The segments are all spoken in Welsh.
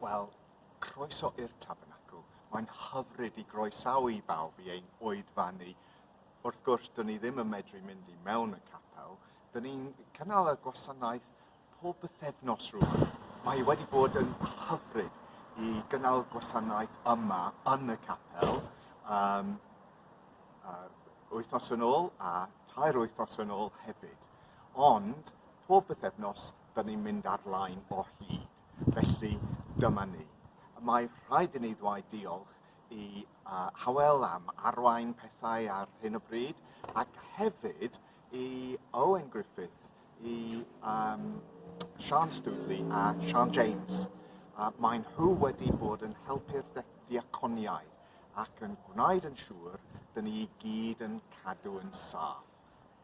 Wel, croeso i'r Tabernacl. Mae'n hyfryd i groesawu i bawb i ein oedfa ni. Wrth gwrs, dyn ni ddim yn medru mynd i mewn y capel. Dyn ni'n cynnal y gwasanaeth pob bythefnos rwan. Mae wedi bod yn hyfryd i gynnal gwasanaeth yma yn y capel um, uh, wythnos yn ôl a tair wythnos yn ôl hefyd. Ond pob bythefnos, da ni'n mynd ar-lain o hyd. Felly, dyma ni. Mae rhaid i ni ddweud diolch i uh, Howell am arwain pethau ar hyn o bryd ac hefyd i Owen Griffiths, i um, Sian Studley a Sian James. A maen nhw wedi bod yn helpu'r diaconiaid ac yn gwneud yn siŵr dyn ni i gyd yn cadw yn saff.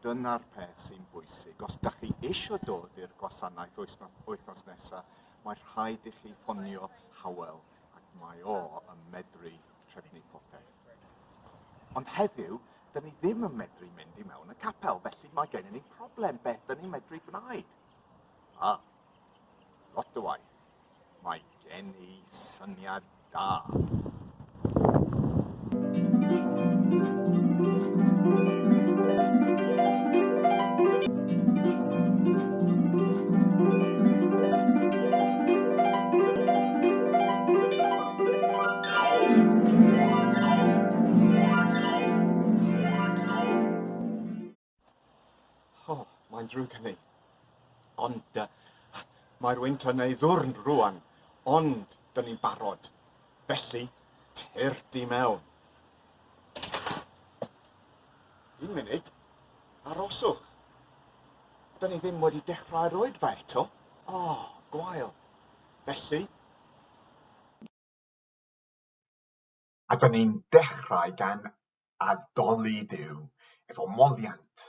Dyna'r peth sy'n bwysig. Os da chi eisiau dod i'r gwasanaeth wythnos nesaf, mae rhaid i chi ffonio Howell ac mae o yn medru trefnu popeth. Ond heddiw, dyn ni ddim yn medru mynd i mewn y capel, felly mae gennym ni problem beth dyn ni'n medru gwneud. A, lot o waith. Mae gen i syniad da. O, mae'n drwy hynny. Ond uh, mae'r wynt yn ei ddwrn rwan, ond dyn ni'n barod. Felly, tyr di mewn. Un munud, aroswch. Dyn ni ddim wedi dechrau'r oedfa eto. O, oh, gwael. Felly, A dan ni'n dechrau gan addoli Duw efo moliant.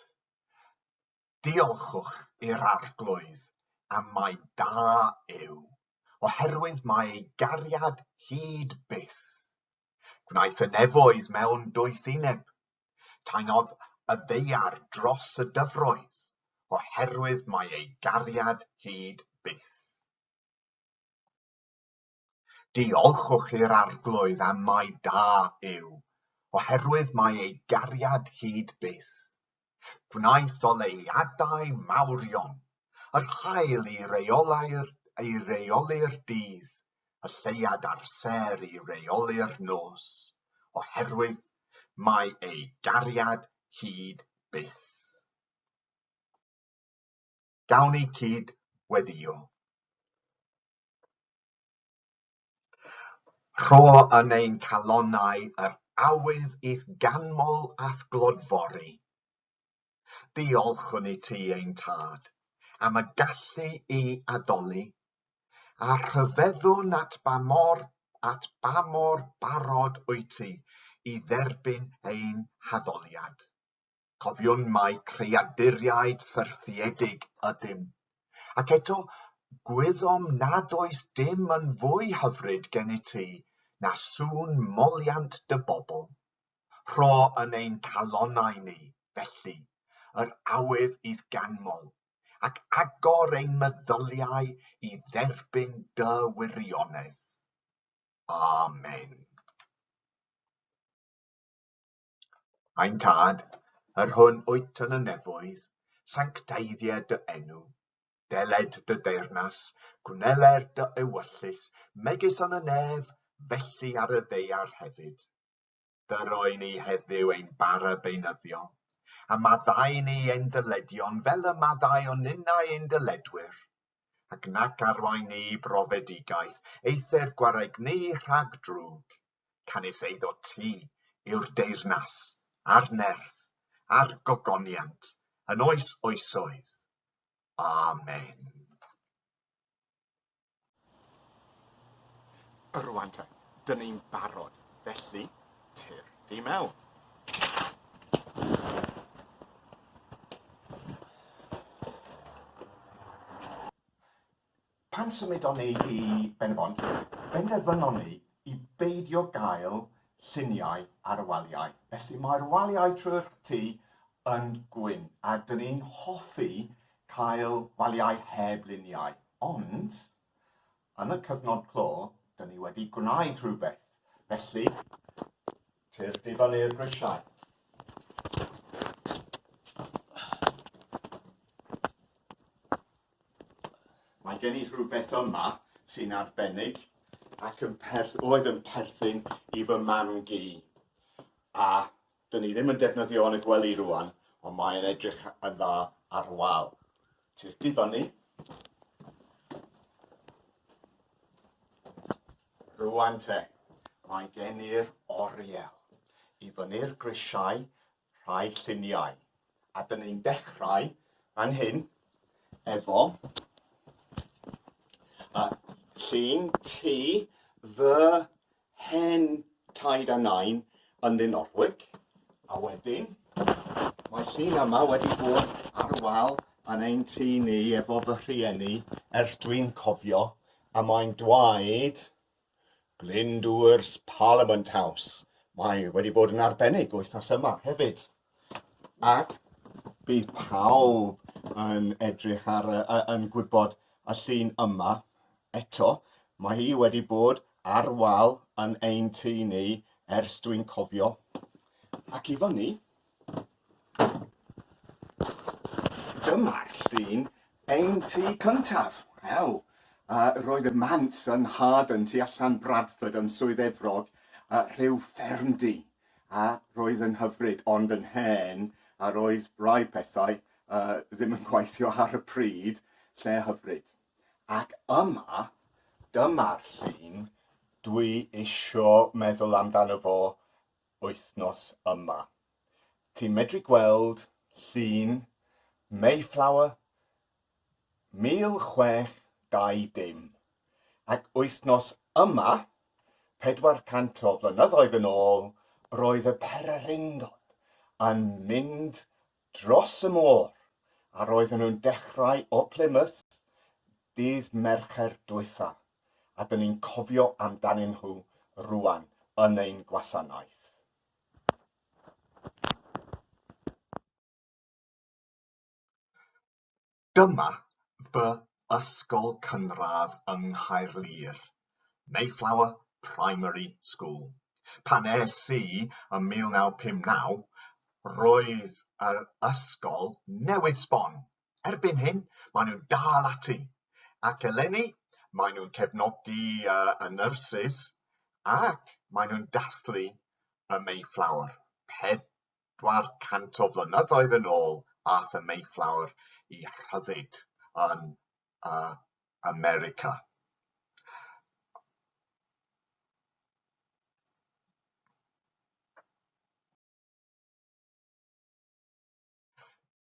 Diolchwch i'r Arglwydd am mai da yw, oherwydd mae ei gariad hyd byth. Gwnaeth y nefoedd mewn doethineb, taenodd y ddaear dros y dyfroedd, oherwydd mae ei gariad hyd byth. Diolchwch i'r Arglwydd am mai da yw, oherwydd mae ei gariad hyd byth. Gwnaeth oleuadau mawrion, yr haul i reoli'r i reoli'r dydd, y lleuad a'r sêr i reoli'r nos, oherwydd mae ei gariad hyd byth. Gawn eu cyd-weddïo. Rho yn ein calonnau yr awydd i'th ganmol a'th glodfori. Diolchwn i ti, ein Tad, am y gallu i addoli, a rhyfeddwn at ba mor at ba mor barod wyt ti i dderbyn ein haddoliad. Cofiwn mai creaduriaid syrthiedig ydym, ac eto gwyddom nad oes dim yn fwy hyfryd gennyt ti na sŵn moliant dy bobl. Rho yn ein calonnau ni, felly, yr awydd i'th ganmol, ac agor ein meddyliau i dderbyn dy wirionedd. Amen. Ein Tad, yr hwn wyt yn y nefoedd, sancteiddia dy enw. Deled dy deyrnas, gwneler dy ewyllys, megis yn y nef, felly ar y ddeiar hefyd. Dyroi ni heddiw ein bara beunyddiol, a maddau ni ein dyledion fel y maddau o ninnau ein dyledwyr, ac nac arwain ni i brofedigaeth, eithr gwareg ni rhag drwg, canys eiddo ti yw'r deyrnas, a'r nerth, a'r gogoniant, yn oes oesoedd. Amen. Rŵan te, dyn ni'n barod, felly, Tir di mewn. Pan symudon ni i Benybont, benderfynon ni i beidio gael lluniau ar y waliau. Felly mae'r waliau trwy'r tu yn gwyn, a dyn ni'n hoffi cael waliau heb luniau. Ond Yn y cyfnod clo, dyn ni wedi gwneud rhywbeth, felly, tir di fyny'r grisiau. Mae gen i rhywbeth yma sy'n arbennig ac yn perth, oedd yn perthyn i fy mam-gu, a Dyn ni ddim yn defnyddio yn y gwely rwan, ond mae'n edrych yn dda ar wal. Ti'r difan ni. Rwan te, mae gen i'r oriel i fyny'r grisiau rhai lluniau. A dyn ni'n dechrau fan hyn efo y llun ti fy hen taid a nain yn Llyn Orwyc, a wedyn mae llun yma wedi bod ar y wal yn ein tŷ ni efo fy rhieni ers dwi'n cofio, a mae'n dweud Glyndŵr's Parliament House. Mae wedi bod yn arbennig wythnos yma hefyd. Ac bydd pawb yn edrych ar, yn gwybod y llun yma eto, mae hi wedi bod ar wal yn ein tŷ ni ers dwi'n cofio, ac i fyny, dyma'r llun ein tŷ cyntaf. Wel, uh, roedd y mant yn Harden tu allan Bradford yn Swydd Efrog, uh, rhyw ffermdy. A roedd yn hyfryd, ond yn hen a roedd rai pethau ddim yn gweithio ar y pryd, lle hyfryd. Ac yma, dyma'r llun dwi isio meddwl amdano fo wythnos yma. Ti'n medru gweld llun Mayflower 1620, ac wythnos yma, 400 o flynyddoedd yn ôl, roedd y pererindod yn mynd dros y môr a roedden nhw'n dechrau o Plymouth dydd Mercher diwetha', a 'dyn ni'n cofio amdanyn nhw rŵan yn ein gwasanaeth. Dyma fy ysgol cynradd yng Nghaerlŷr, Mayflower Primary School. Pan es i ym 1959, roedd yr ysgol newydd sbon. Erbyn hyn, maen nhw'n dal ati, ac eleni maen nhw'n cefnogi y nyrsys ac maen nhw'n dathlu y Mayflower, pedwar cant o flynyddoedd yn ôl aeth y Mayflower i rhyddid yn uh, America.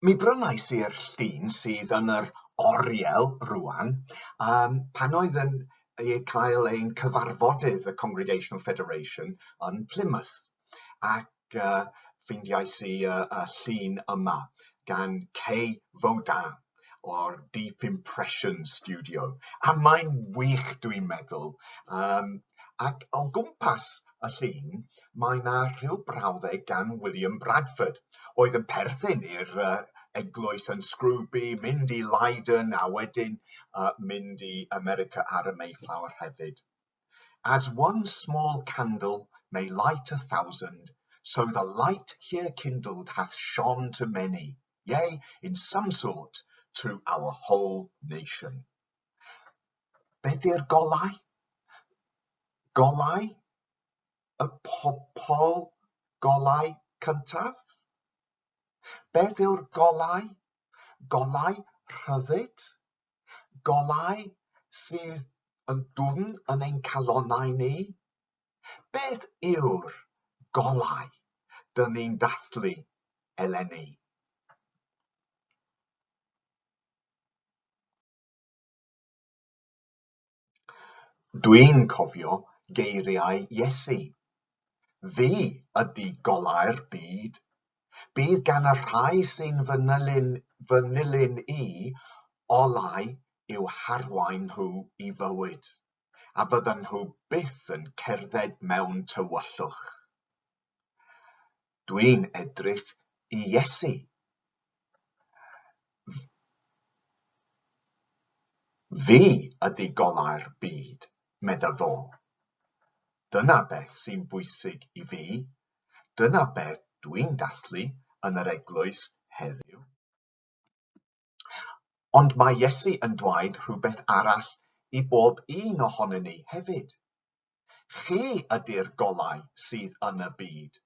Mi brynais i'r llun sydd yn yr oriel rwan, um, pan oedd yn ei cael ein cyfarfodydd y Congregational Federation yn Plymouth. Ac uh, ffeindiais i uh, y llun yma gan Kay Voda o'r Deep Impression Studio. A mae'n wych, dwi'n meddwl. Um, ac o gwmpas y llun, mae 'na rhyw brawddeg gan William Bradford oedd yn perthyn i'r yy eglwys yn Scrooby, mynd i Leyden a wedyn yy mynd i America ar y Mayflower hefyd. As one small candle may light a thousand, so the light here kindled hath shone to many, yea, in some sort, to our whole nation. Be ydy'r golau? Golau y pobl golau cyntaf? Beth yw'r golau? Golau rhyddid? Golau sydd yn dwfn yn ein calonnau ni? Beth yw'r golau dŷn ni'n dathlu eleni? Dwi'n cofio geiriau Iesu, Fi ydy golau'r byd. Bydd gan y rhai sy'n fy nilyn, fy nilyn i, olau i'w harwain nhw i fywyd. a fyddan nhw byth yn cerdded mewn tywyllwch. Dwi'n edrych i Iesu. Fi ydy golau'r byd, medda fo. Dyna beth sy'n bwysig i fi, dyna beth dwi'n dathlu yn yr eglwys heddiw. Ond mae Iesu yn dweud rhywbeth arall i bob un ohonyn ni hefyd, Chi ydy'r golau sydd yn y byd.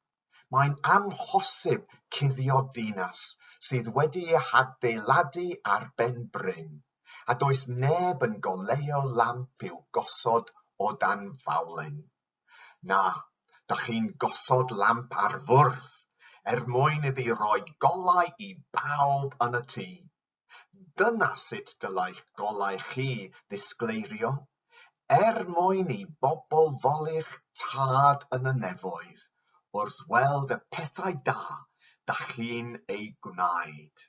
Mae'n amhosib cuddio dinas sydd wedi ei hadeiladu ar ben bryn, a does neb yn goleuo lamp i'w gosod o dan fawlen. Na, dach chi'n gosod lamp ar fwrdd er mwyn iddi roi golau i bawb yn y tŷ. Dyna sut dylai'ch golau chi ddisgleirio, er mwyn i bobl foli'ch tad yn y nefoedd wrth weld y pethau da dach chi'n eu gwneud.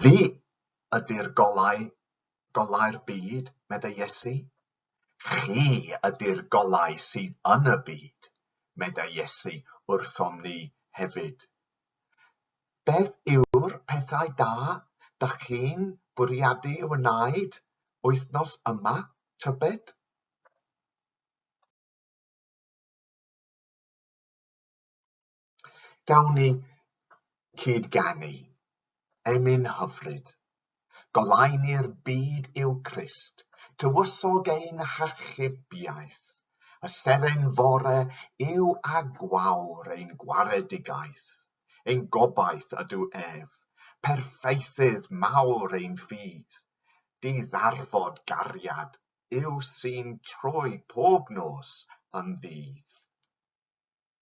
Fi ydy'r golau, golau'r byd, meddai Iesu. Chi ydy'r golau sydd yn y byd, meddai Iesu wrthom ni hefyd. Beth yw'r pethau da dych chi'n bwriadu eu wneud wythnos yma, tybed? Gawn ni cyd-ganu, emyn hyfryd, Golai ni'r byd i'w Crist, Tywysog ein hachubiaeth, Y seren fore yw a gwawr ein gwaredigaeth, Ein gobaith ydw ef, perffaithydd mawr ein ffydd, Di-ddarfod gariad yw sy'n troi pob nos yn ddydd.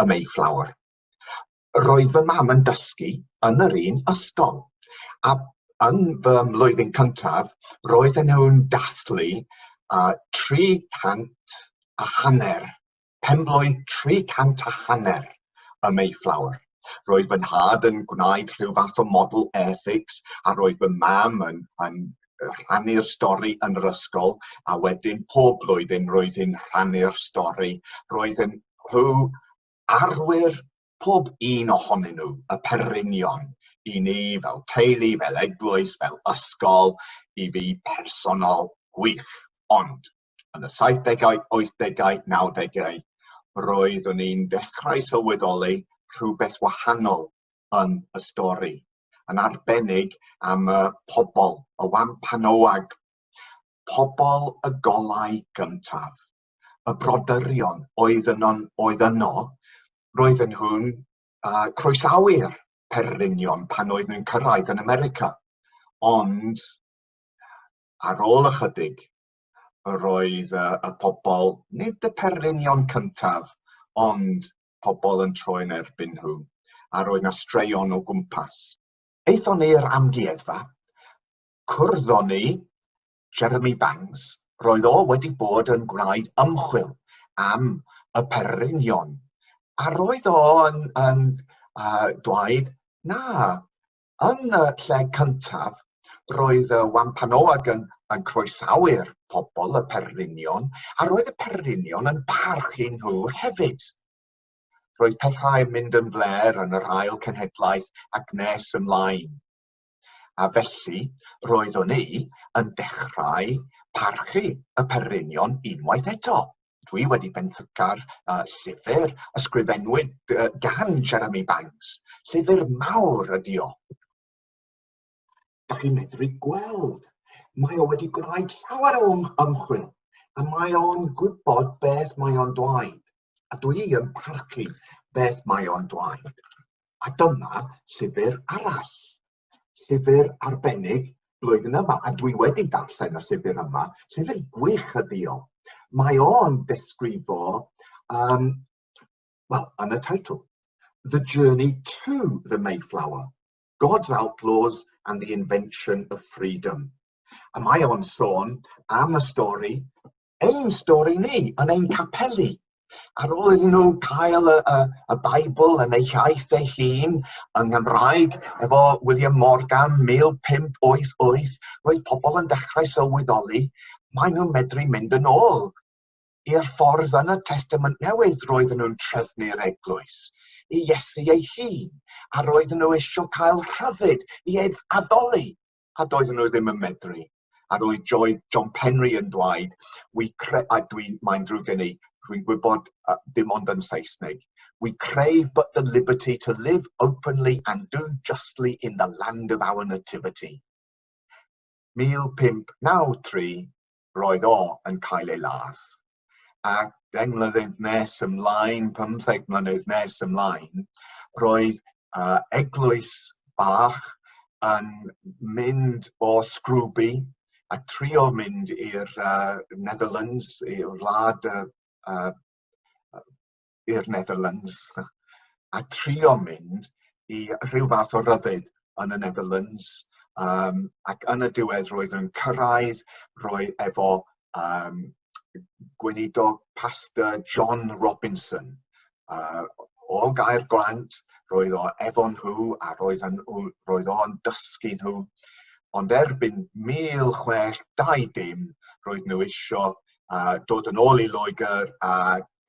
y Mayflower. Roedd fy mam yn dysgu yn yr un ysgol, a yn fy mlwyddyn cyntaf, roedd yn nhw'n dathlu uh, 300 a hanner, penblwydd 300 a hanner y Mayflower. Roedd fy nhad yn gwneud rhyw fath o model airfix a roedd fy mam yn, yn rhannu'r stori yn yr ysgol a wedyn pob blwyddyn roedd hi'n rhannu'r stori roedd yn rhyw arwyr pob un ohonyn nhw y perrynion i ni fel teulu fel eglwys fel ysgol i fi personol gwych ond yn y saithdegau wythdegau nawdegau roeddwn i'n dechrau sylweddoli rhywbeth wahanol yn y stori, yn arbennig am y pobl, y Wampanoag, pobl y golau gyntaf, y brodorion oedd yno, oedd yno roedden nhw'n uh, croesawu'r perlynion pan oedd nhw'n cyrraedd yn America. Ond ar ôl ychydig, roedd uh, y pobl, nid y perlynion cyntaf, ond pobl yn troi yn erbyn nhw, a roedd na straeon o gwmpas. Aethon ni i'r amgueddfa, cwrddon ni Jeremy Bangs, roedd o wedi bod yn gwneud ymchwil am y pererinion, a roedd o yn, yn uh, dweud, na, Yn y lle cyntaf, roedd y Wampanoag yn, yn croesawu'r pobl, y perlinion, a roedd y perlinion yn parchu nhw hefyd. Roedd pethau'n mynd yn fler yn yr ail cenhedlaeth ac nes ymlaen. A felly, roeddwn i yn dechrau parchu y perlinion unwaith eto. dwi wedi benthyca'r yy llyfyr ysgrifennwyd yy gan Jeremy Banks, llyfyr mawr ydi o. Dach chi'n medru gweld, mae o wedi gwneud llawer o ymchwil, a mae o'n gwybod beth mae o'n dweud, a dwi yn parchu beth mae o'n dweud. A dyma llyfyr arall llyfr arbennig blwyddyn yma a dwi wedi darllen y llyfr yma sydd yn gwych y diolch. Mae o'n desgrifo um, well, yn y teitl, The Journey to the Mayflower, God's Outlaws and the Invention of Freedom. A mae o'n sôn am y stori ein stori ni, yn ein capeli. Ar ôl iddyn nhw cael y, y, y Bible yn eu hiaith eu hun, yng Nghymraeg, efo William Morgan 1588, roedd pobl yn dechrau sylweddoli, maen nhw'n medru mynd yn ôl i'r ffordd yn y Testament Newydd roedden nhw'n trefnu'r eglwys, i Iesu ei hun, a roedden nhw eisiau cael rhyddid i addoli a doedden nhw ddim yn medru. A roedd Joy John Penry yn dweud, we cre- a dwi, mae'n drwy gen i, dwi'n gwybod uh, dim ond yn Saesneg, we crave but the liberty to live openly and do justly in the land of our nativity. 1593, roedd o yn cael ei ladd. A deng mlynedd nes ymlaen, 15 mlynedd nes ymlaen, roedd uh, eglwys bach yn mynd o Scrooby a trio mynd i'r uh, Netherlands, i'r wlad y uh, uh, i'r Netherlands a trio mynd i rhyw fath o ryddid yn y Netherlands um, ac yn y diwedd roedd yn cyrraedd roi efo um, gweinidog pastor John Robinson uh, o gair glant roedd o efo nhw a roedd yn, roedd o'n dysgu nhw ond erbyn 1620 roedd nhw eisiau uh, dod yn ôl i Loegr a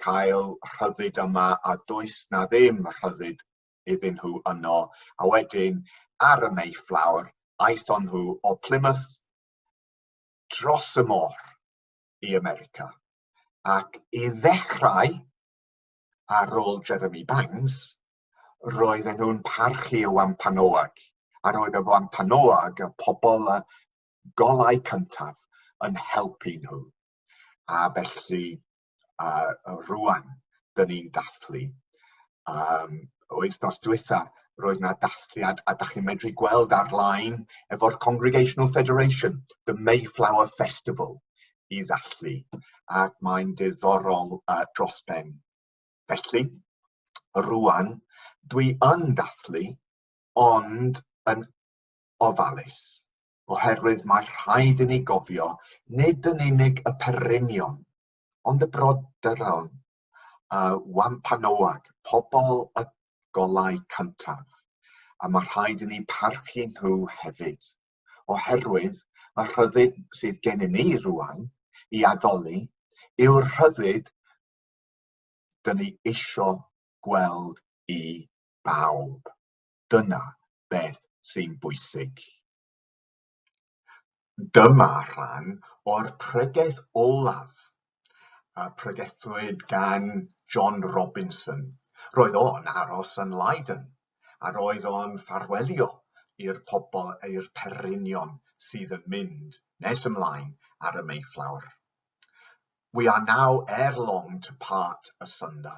cael rhyddid yma a does na ddim rhyddid iddyn nhw yno a wedyn ar y Mayflower aethon nhw o Plymouth dros y môr i America ac i ddechrau ar ôl Jeremy Bangs roedden nhw'n parchu y Wampanoag a roedd y Wampanoag y pobl y golau cyntaf yn helpu nhw a felly a rwan dyn ni'n dathlu. Um, wythnos diwetha, roedd yna dathliad a da chi'n medru gweld ar-lein efo'r Congregational Federation, the Mayflower Festival, i ddathlu. Ac mae'n diddorol uh, dros ben. Felly, rwan, dwi yn dathlu, ond yn ofalus. oherwydd mae rhaid i ni gofio nid yn unig y perrynion, ond y brodorol, y Wampanoag, pobl y golau cyntaf, a mae rhaid i ni parchu nhw hefyd, oherwydd y rhyddid sydd gennym ni rwan i addoli yw'r rhyddid dyn ni eisiau gweld i bawb. Dyna beth sy'n bwysig. Dyma rhan o'r pregeth olaf a pregethwyd gan John Robinson. Roedd o'n aros yn Leiden a roedd o'n ffarwelio i'r pobl i'r perinion sydd yn mynd nes ymlaen ar y Mayflower. We are now ere long to part asunder.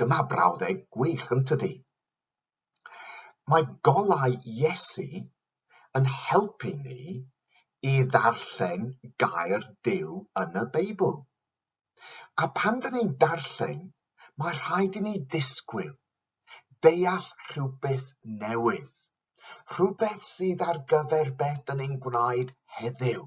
Dyma brawddeg gwych, yn tydi? Mae golau Iesu yn helpu ni i ddarllen gair Duw yn y Beibl. A pan dyn ni'n darllen, mae rhaid i ni ddisgwyl, deall rhywbeth newydd, rhywbeth sydd ar gyfer beth dyn ni'n gwneud heddiw.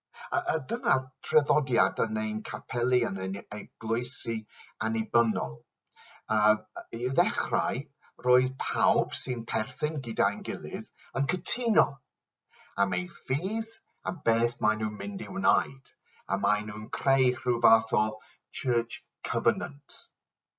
A, a dyna traddodiad yn ein capeli, yn ein eglwysi annibynnol. A, I ddechrau, roedd pawb sy'n perthyn gyda'n gilydd yn cytuno am ei ffydd, am beth maen nhw'n mynd i wneud, a maen nhw'n creu rhyw fath o church covenant.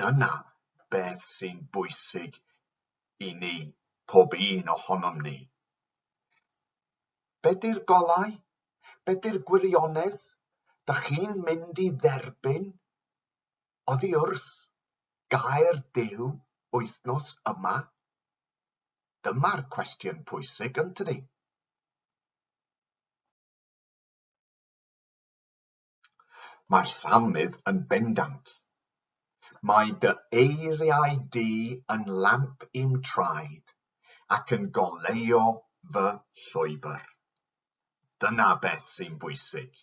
Dyna beth sy'n bwysig i ni, pob un ohonom ni. Be di'r golau? Be di'r gwirionedd? Da chi'n mynd i dderbyn, oddi wrs, gair Duw wythnos yma? Dyma'r cwestiwn pwysig, yn tydi? Mae'r Salmydd yn bendant. Mae dy eiriau di yn lamp i'm traed ac yn goleuo fy llwybr. Dyna beth sy'n bwysig.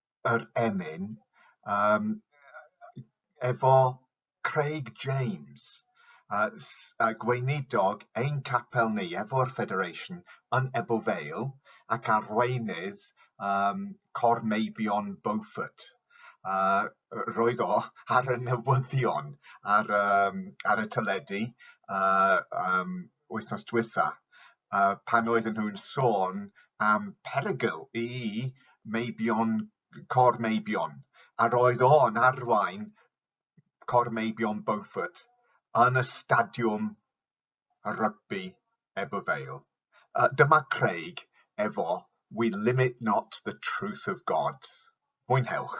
yr emyn yym efo Craig James yy s- yy gweinidog ein capel ni efo'r Federation yn Ebbw Vale ac arweinydd yym Cor Meibion Beaufort yy roedd o ar y newyddion ar yym ar y teledu yy yym wythnos dwytha yy pan oedden nhw'n sôn am perygl i meibion c- cor meibion a roedd o'n arwain cor meibion Beaufort yn y stadiwm y rygbi Ebbw Vale yy dyma Craig efo we limit not the truth of God. Mwynhewch.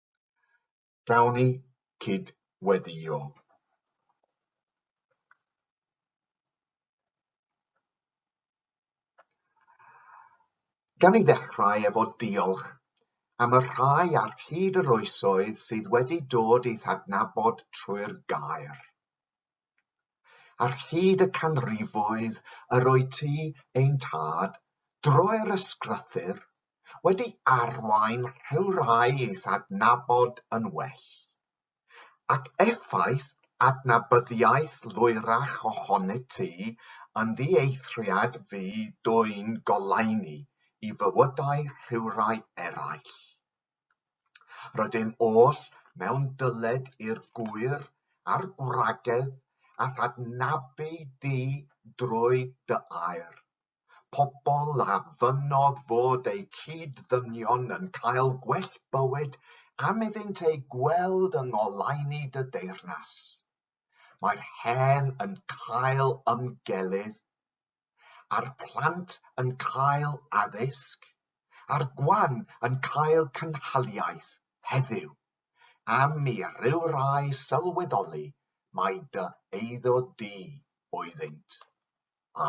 Gawn ni gyd-weddïo. Gawn ni ddechrau efo diolch am y rhai ar hyd yr oesoedd sydd wedi dod i'th adnabod trwy'r gair. Ar hyd y canrifoedd yr oed ti, ein tad, drwy'r ysgrythur, wedi arwain rhywrai i'th adnabod yn well. Ac effaith adnabyddiaeth lwyrach ohonyt ti yn ddieithriad fu dwyn goleuni i fywydau rhywrai eraill. Rydym oll mewn dyled i'r gŵyr a'r gwragedd a thadnabu di drwy dy air. Pobl a fynnodd fod eu cyd-ddynion yn cael gwell bywyd am iddynt eu gweld yng ngoleuni dy deyrnas. Mae'r hen yn cael ymgelydd a'r plant yn cael addysg, a'r gwan yn cael cynhaliaeth heddiw, am i ryw rai sylweddoli mai dy eiddo di oeddynt.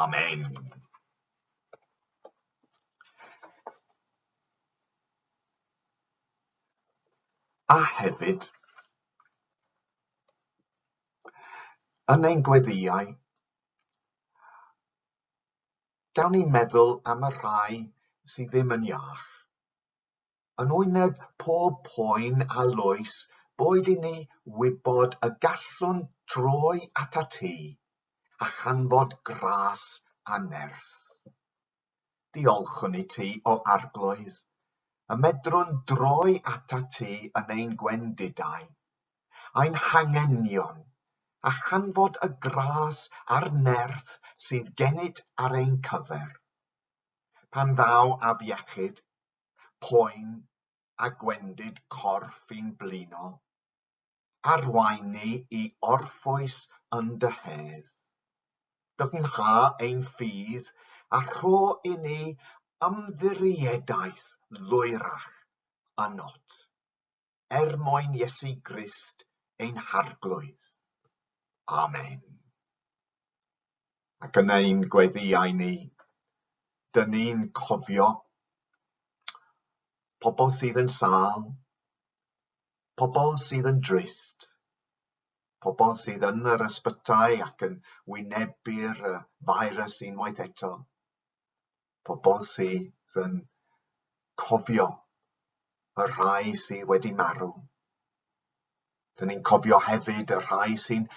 Amen. A hefyd, yn ein gweddiau, Gawn ni meddwl am y rhai sy ddim yn iach. Yn wyneb pob poen a loes boed i ni wybod y gallwn droi at y tŷ a chanfod gras a nerth. Diolchwn i ti, O Arglwydd, y medrwn droi atat ti yn ein gwendidau, ein hangenion, a chanfod y gras a'r nerth sydd gennyt ar ein cyfer. Pan ddaw afiechyd, poen, a gwendid corff i'n blino, arwain ni i orffwys yn dy hedd. Dyfnha ein ffydd a rho i ni ymddiriedaeth lwyrach a not, er mwyn Iesu Grist ein Harglwydd. Amen. Ac yn ein gweddiau ni, dyn ni'n cofio pobl sydd yn sâl, pobl sydd yn drist, pobl sydd yn yr ysbytai ac yn wynebu'r feirws unwaith eto, pobl sydd yn cofio y rhai sydd wedi marw. Dyn ni'n cofio hefyd y rhai sy'n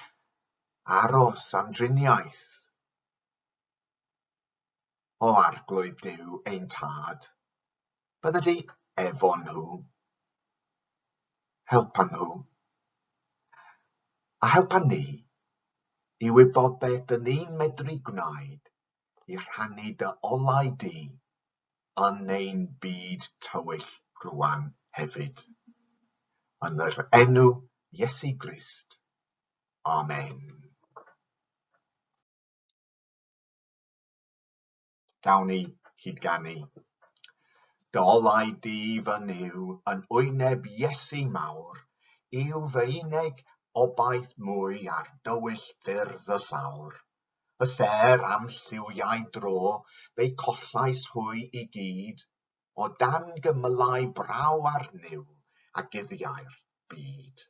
aros am driniaeth, O Arglwydd Duw ein Tad, bydda di efo nhw. Helpa nhw. A helpa ni i wybod beth dyn ni'n medru gwneud i rhannu dy olau di yn ein byd tywyll rwan hefyd. Yn yr enw Iesu Grist. Amen. Gawn ni hyd ganu. Dolai di fy nyw yn wyneb Iesu mawr, yw fy uneg obaith mwy ar dywyll ffyrdd y llawr. Y ser am lliwiau dro, fe collais hwy i gyd, o dan gymylau braw ar niwl a guddiau'r byd.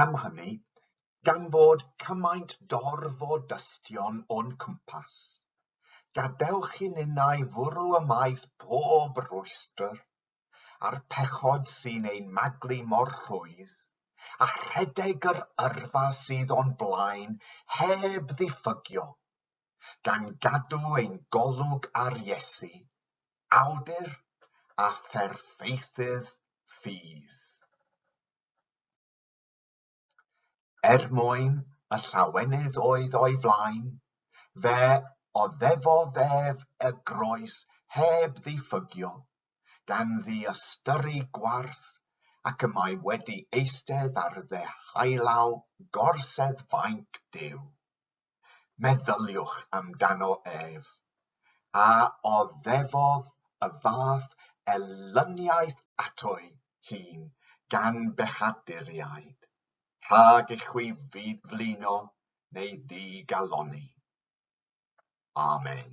Am hynny, gan fod cymaint dorf o dystion o'n cwmpas, gadewch i ninnau fwrw ymaith pob rhwystr, a'r pechod sy'n ein maglu mor rhwydd, a rhedeg yr yrfa sydd o'n blaen heb ddiffygio, gan gadw ein golwg ar Iesu, awdur a pherffeithydd ffydd. Er mwyn y llawenydd oedd o'i flaen, fe oddefodd ef y groes heb ddiffygio, gan ddiystyru gwarth, ac y mae wedi eistedd ar ddeheualaw gorsedd fainc Duw. Meddyliwch amdano ef. A oddefodd y fath elyniaeth ato'i hun gan bechaduriaid, rhag i chwi flino neu ddigalonni? Amen.